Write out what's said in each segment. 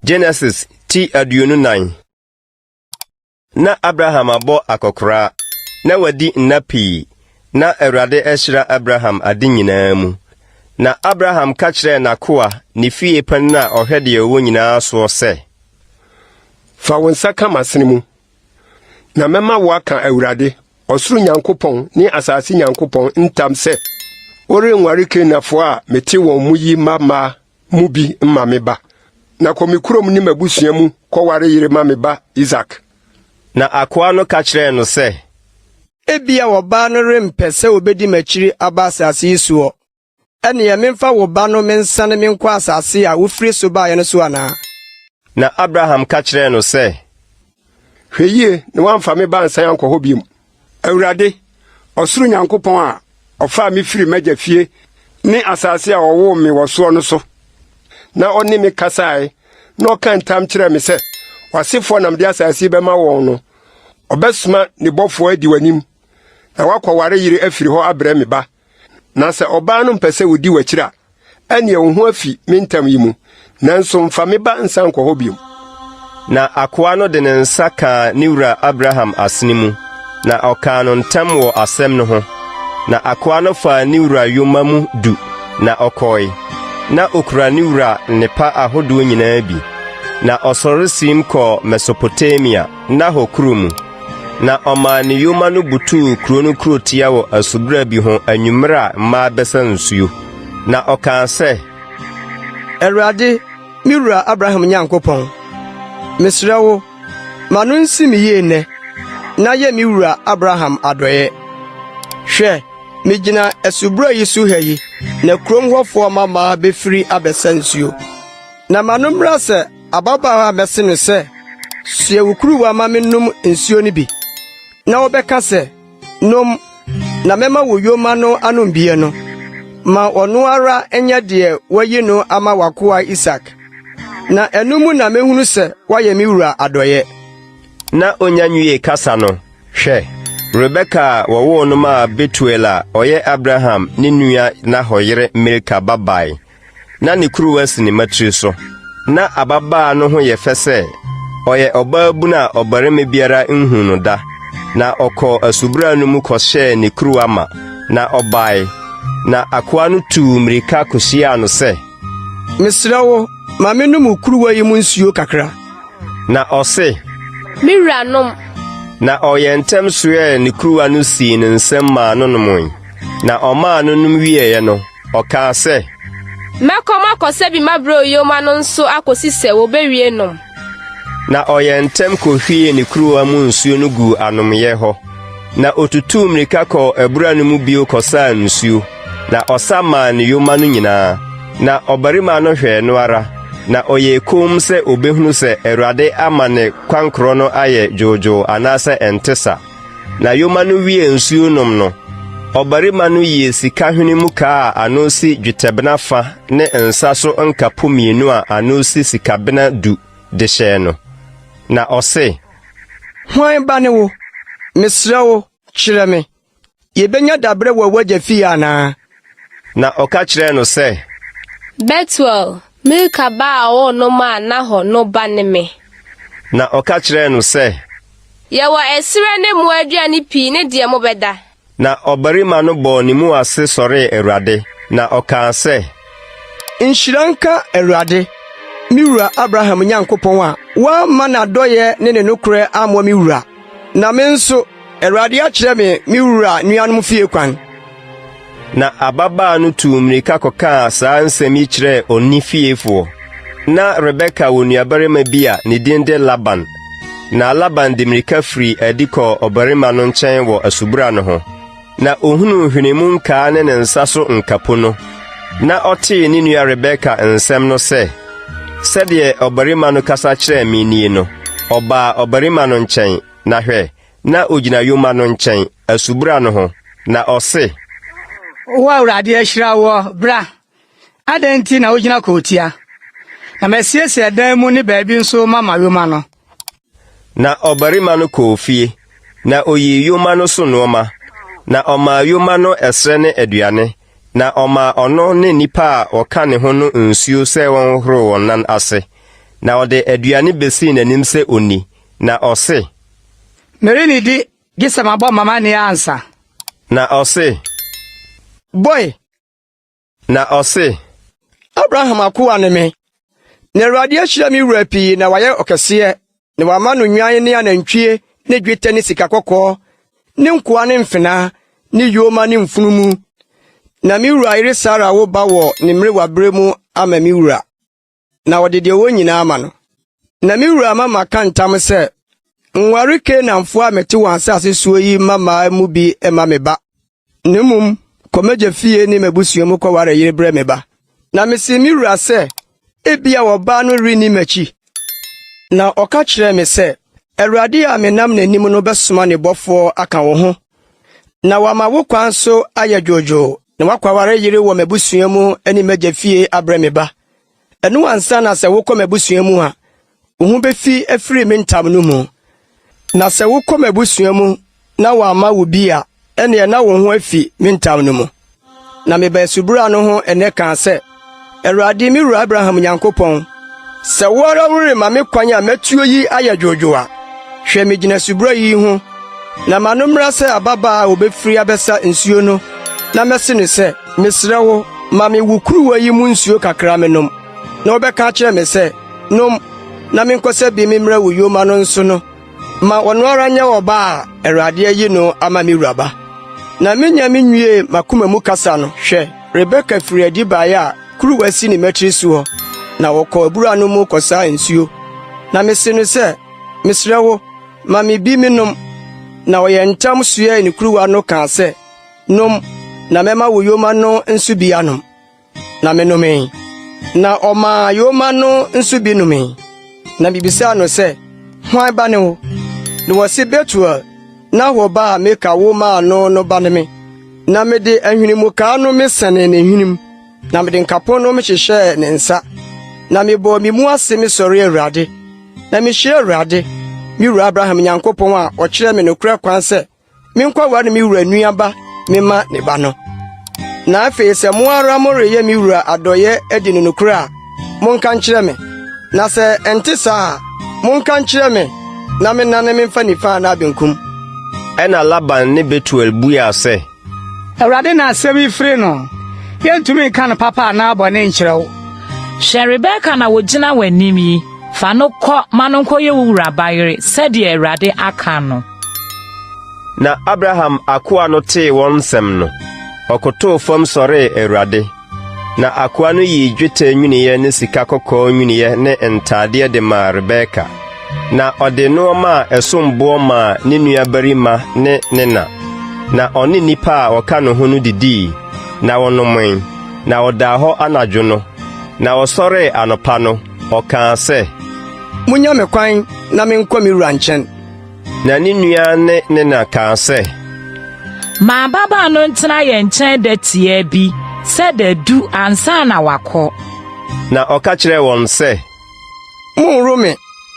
Genesis ti aduonu nan na Abraham abɔ akɔkoraa na wadi nna pii na Awurade ahyira Abraham ade nyinaa mu. Na Abraham ka kyerɛɛ n'akoa ne fie panin a ɔhwɛ deɛ ɔwɔ nyinaa soɔ sɛ, Fa wo nsa ka m'asene mu Na mɛma woaka Awurade, ɔsoro Nyankopɔn ne asase Nyankopɔn ntam sɛ, worenware Kanaanfoɔ a mete wɔn mu yi mma mmaa mu bi mma me ba. Na kɔ me kurom ne m'abusua mu kɔware yere ma me ba Isak. Na akoa no ka kyerɛɛ no sɛ. Ebia ɔbaa no rempɛ sɛ obedi m'akyiri aba asase yi soɔ. Ɛnneɛ memfa wo ba no mensane menkɔ asase a wofiri so baeɛ no so anaa? Na Abraham ka kyerɛɛ no sɛ. Hwɛ yie na woamfa me ba ansan ankɔ hɔ bio. Awurade, ɔsoro Nyankopɔn a ɔfaa me firii m'agya fie ne asase a ɔwoo me wɔ soɔ no so, na ɔne me kasaeɛ na ɔkaa ntam kyerɛɛ me sɛ w'asefoɔ na mede asase yi bɛma wɔn no, ɔbɛsoma ne bɔfoɔ adi w'anim, na woakɔware yere afiri hɔ abrɛ me ba. Na sɛ ɔbaa no mpɛ sɛ odi w'akyiri a, ɛnneɛ wo ho afi me ntam yi mu, nanso mfa me ba nsan nkɔ hɔ bio. Na akoa no de ne nsa kaa ne wura Abraham asene mu, na ɔkaa no ntam wɔ asɛm no ho. Na akoa no faa ne wura yoma mu du, na ɔkɔe. Ná okura ne wura nnepa ahodoɔ nyinaa bi. Na ɔsɔre siim kɔɔ Mesopotamia. Nahor kurow mu. Na ɔmaa ne yoma no butuw kurow no kurotia wɔ asubura bi ho anwummere a mmaa bɛsa nsuo. Na ɔkaa sɛ. Awurade, me wura Abraham Nyankopɔn, mesrɛ wo, ma no nsi me yie nnɛ, na yɛ me wura Abraham adɔeɛ. Hwɛ, megyina asubura yi so ha yi, na kurom hɔfoɔ mmammaa bɛfiri abɛsa nsuo. Na ma no mmra sɛ Ababaawa a mɛse no sɛ, 'Soɛ wo kuruwa ma mennom nsuo no bi, na wobɛka sɛ, 'Nom, na mɛma wo yoma no anom bie no, ma ɔno ara nyɛ deɛ wayi no ama w'akoa Isak. Na ɛno mu na mɛhunu sɛ woayɛ me wura adɔeɛ. Na ɔnya nwiee kasa no, hwɛ! Rebeka a wɔwoo no maa Betuel a ɔyɛ Abraham ne nua Nahor yere Milka ba bae. na ne kuruwa si ne mma tiri so. Na ababaa no ho yɛ fɛ sɛ ɔyɛ ɔbaabun a ɔbarima biara nhuu no da. Na ɔkɔɔ asubura no mu kɔhyɛɛ ne kuruwa ma, na ɔbae. Na akoa no tuu mmirika kohyiaa no sɛ, Mesrɛ wo, ma mennom wo kuruwa yi mu nsuo kakra. Na ɔse, Me wura, nom. Na ɔyɛɛ ntɛm soɛɛ ne kuruwa no sii ne nsam maa no nomoe. Na ɔmaa no nom wieeɛ no, Ɔkaa sɛ. Mɛkɔ makɔsɛ bi m'abrɛw yoma no nso akosi sɛ wobewie nom. Na ɔyɛɛ ntɛm kohwiee ne kuruwa mu nsuo no guu anomyɛ hɔ, na otutuu mmirika kɔɔ abura no mu bio kɔsaa nsuo, na ɔsa maa ne yoma no nyinaa. Na ɔbarima no hwɛɛ no ara, na ɔyɛɛ komm sɛ obehunu sɛ Awurade ama ne kwankorɔ no ayɛ dwoodwoo anaasɛ ɛnte sa. Na yoma no wiee nsuo nom no, ɔbarima no yii sika hwene mu kaa a ano si dwetɛbena fa ne nsa so nkapo mmienu a ano si sikabena du de hyɛɛ no. Na ɔse. Hwan ba ne wo? Mesrɛ wo, kyerɛ me. Yebenya dabrɛ wɔ w'agya fie anaa? Na ɔka kyerɛɛ no sɛ. Betuel, Milka ba a ɔwoo no maa Nahor no ba ne me. Na ɔka kyerɛɛ no sɛ. Yɛwɔ ɛserɛ ne mmoa aduane pii ne deɛ mobɛda. Na ɔbarima no bɔɔ ne mu ase sɔree Awurade, na ɔkaa sɛ. Nhyira nka Awurade, me wura Abraham Nyankopɔn a wamma n'adɔeɛ ne ne nokorɛ ammɔ me wura, na me nso, Awurade akyerɛ me me wura nuanom fie kwan. Na ababaa no tuu mmirika kɔkaa saa nsɛm yi kyerɛɛ wɔn ne fiefoɔ. Ná Rebeka wɔ nuabarima bi a ne din de Laban. Na Laban de mmirika firii adi kɔɔ ɔbarima no nkyɛn wɔ asubura no ho. Na ohunuu nhwenimu nkaa ne ne nsa so nkapo no, na ɔtee ne nua Rebeka nsɛm no sɛ, Sɛdeɛ ɔbarima no kasa kyerɛɛ me nie no, ɔbaa ɔbarima no nkyɛn, na hwɛ, na ogyina yoma no nkyɛn, asubura no ho, na ɔse, Wo Awurade ahyira woɔ, bra. Adɛn nti na wogyina kootia? Na masiesie dan mu ne baabi nso mama yoma no. Na ɔbarima no kɔɔ fie, na oyii yoma no so nnoɔma, na ɔmaa yoma no ɛserɛ ne aduane, na ɔmaa ɔno ne nnipa a wɔka ne ho no nsuo sɛ wɔnhohoro wɔn nan ase, na ɔde aduane bɛsii n'anim sɛ ɔnni, na ɔse. Merennidi gye sɛ mabɔ m'amanneɛ ansa. Na ɔse. Boe! Na ɔse, Abraham akoa ne me, na Awurade ahyira me wura pii na wayɛ ɔkɛseɛ, na wama no nnwan ne anantwie ne dwetɛ ne sika kɔkɔɔ ne nkoa ne mfenaa ne yoma ne mfunumu, na me wura yere Sara awo ba wɔ ne mmerewaberɛ mu ama me wura. na ɔde deɛ ɔwɔ nyinaa ama no. Na me wura ama maka ntam sɛ, nware Kanaanfoɔ a mete wɔn asase soɔ yi mmammaa mu bi mma me ba, na mmom kɔ m'agya fie ne m'abusua mu kɔware yere brɛ me ba. Na mesee me wura sɛ, ebia ɔbaa no renni m'akyi. Na ɔka kyerɛɛ me sɛ, Awurade a menam n'anim no bɛsoma ne bɔfoɔ aka wo ho, na wama wo kwan so ayɛ dwoodwoo, na woakɔware yere wɔ m'abusua mu ne m'agya fie abrɛ me ba. Ɛno ansa na sɛ wokɔ m'abusua mu a, wo ho befi afiri me ntam no mu. Na sɛ wokɔ m'abusua mu na wɔamma wo bi a, ɛnneɛ na wo ho afi me ntam no mu. Na mebaa asubura no ho ɛnnɛ kaa sɛ, Awurade, me wura Abraham Nyankopɔn, sɛ wo ara worema me kwan a matuo yi ayɛ dwoodwoo a, hwɛ, megyina asubura yi ho Na ma no mmra sɛ ababaa a wobefiri abɛsa nsuo no na mɛse no sɛ, ‘Mesrɛ wo, ma me wo kuruwa yi mu nsuo kakra menom.’ Na ɔbɛka akyerɛ me sɛ, ‘Nom, na menkɔsa bi memmrɛ wo yoma no nso’ no, ma ɔno ara nyɛ ɔba a Awurade ayi no ama me wura ba.” Na mennya menwiee m'akoma mu kasa no, hwɛ! Rebeka firii adi baeɛ a kuruwa si ne mmatiri so hɔ, na ɔkɔɔ abura no mu kɔsaa nsuo. Na mese no sɛ, ‘Mesrɛ wo, Ma me bi menom. Na ɔyɛɛ ntɛm soɛɛ ne kuruwa no kaa sɛ, Nom, na mɛma wo yoma no nso bi anom. Na menomee. Na ɔmaa yoma no nso bi nomee. Na mibisaa no sɛ, Hwan ba ne wo? Na wɔse Betuel, Nahor ba a Milka wo maa no no ba ne me. Na mede ahwenemukaa no mesɛnee ne hwenem. na mede nkapo nom hyehyɛɛ ne nsa, na mebɔɔ me mu ase mesɔree Awurade, na mihyiraa Awurade, me wura Abraham Nyankopɔn a ɔkyerɛɛ me nokorɛ kwan sɛ menkɔware me wura nuaba mema ne ba no. Na afei sɛ mo ara moreyɛ me wura adɔeɛ adi no nokorɛ a, monka nkyerɛ me, na sɛ ɛnte saa a, monka nkyerɛ me na mennane memfa nifa anaa benkum. Ɛnna Laban ne Betuel buaa sɛ. Awurade na asɛm yi firi no. Yɛntumi nka no papa anaa bɔne nkyerɛ wo. Hwɛ Rebeka na ɔgyina w'anim yi, fa no kɔ ma no nkɔyɛ wo wura bayere sɛdeɛ Awurade aka no. Na Abraham akoa no tee wɔn nsɛm no, ɔkotoo fam sɔree Awurade. Na akoa no yii dwetɛ nnwinneɛ ne sika kɔkɔɔ nnwinneɛ ne ntadeɛ de maa Rebeka, na ɔde nneɛma a ɛsom boɔ maa ne nuabarima ne ne na. Na ɔne nnipa a wɔka ne ho no didii, na wɔnomee, na ɔdaa hɔ anadwo no, na ɔsɔree anɔpa no, ɔkaa sɛ, Monnya me kwan na menkɔ me wura nkyɛn. Na ne nua ne ne na kaa sɛ. Ma ababaa no ntena yɛn nkyɛn da tiaa bi sɛ da du ansa na wakɔ. Na ɔka kyerɛɛ wɔn sɛ. Monworo me,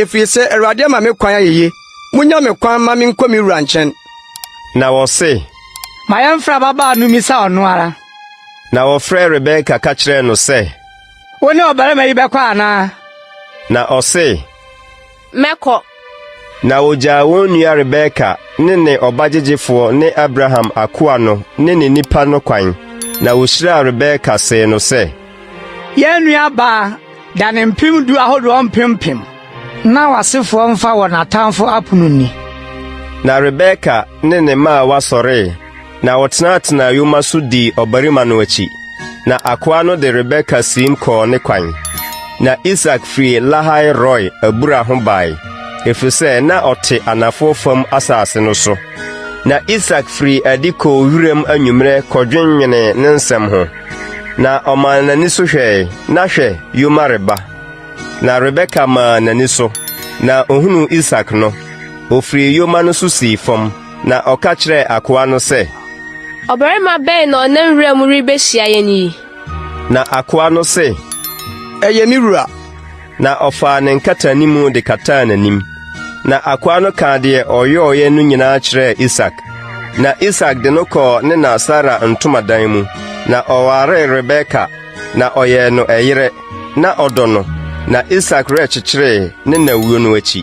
ɛfiri sɛ Awurade ama me kwan ayeye. Monnya me kwan ma menkɔ me wura nkyɛn. Na wɔse. Ma yɛmfrɛ ababaa no mmisa ɔno ara. Na wɔfrɛɛ Rebeka ka kyerɛɛ no sɛ. Wo ne ɔbarima yi bɛkɔ anaa? Na ɔse. mɛkɔ. Na ogyaa wɔn nua Rebeka ne ne ɔba gyegyefoɔ ne Abraham akoa no ne ne nnipa no kwan, na ɔhyiraa Rebeka see no sɛ. Yɛn nuabaa, da ne mpem du ahodoɔ mpem mpem. Na w'asefoɔ mfa wɔn atamfo apono nni. Na Rebeka ne ne mmaawa sɔree. na wɔtenatenaa yoma so dii ɔbarima no akyi, na akoa no de Rebeka siim kɔɔ ne kwan. Na Isak firi Lahai-Roi abura ho bae, ɛfiri sɛ na ɔte anafoɔ fam asase no so. Na Isak firii adi kɔɔ wiram anwummerɛ kɔdwennwenee ne nsɛm ho, na ɔmaa n'ani so hwɛe, na hwɛ, yoma reba. Na Rebeka maa n'ani so, na ɔhunuu Isak no, ɔfirii yoma no so sii fam. Na ɔka kyerɛɛ akoa no sɛ. Ɔbarima bɛn na ɔnam wura mu rebehyia yɛn yi? Na akoa no se. Ɛyɛ me wura. Na ɔfaa ne nkataanimu de kataa n'anim. Na akoa no kaa deɛ ɔyɔeɛ no nyinaa kyerɛɛ Isak. Na Isak de no kɔɔ ne na Sara ntomadan mu, na ɔwaree Rebeka, na ɔyɛɛ no ɛyere. Na ɔdɔ no, na Isak werɛ kyekyeree ne na wuo no akyi.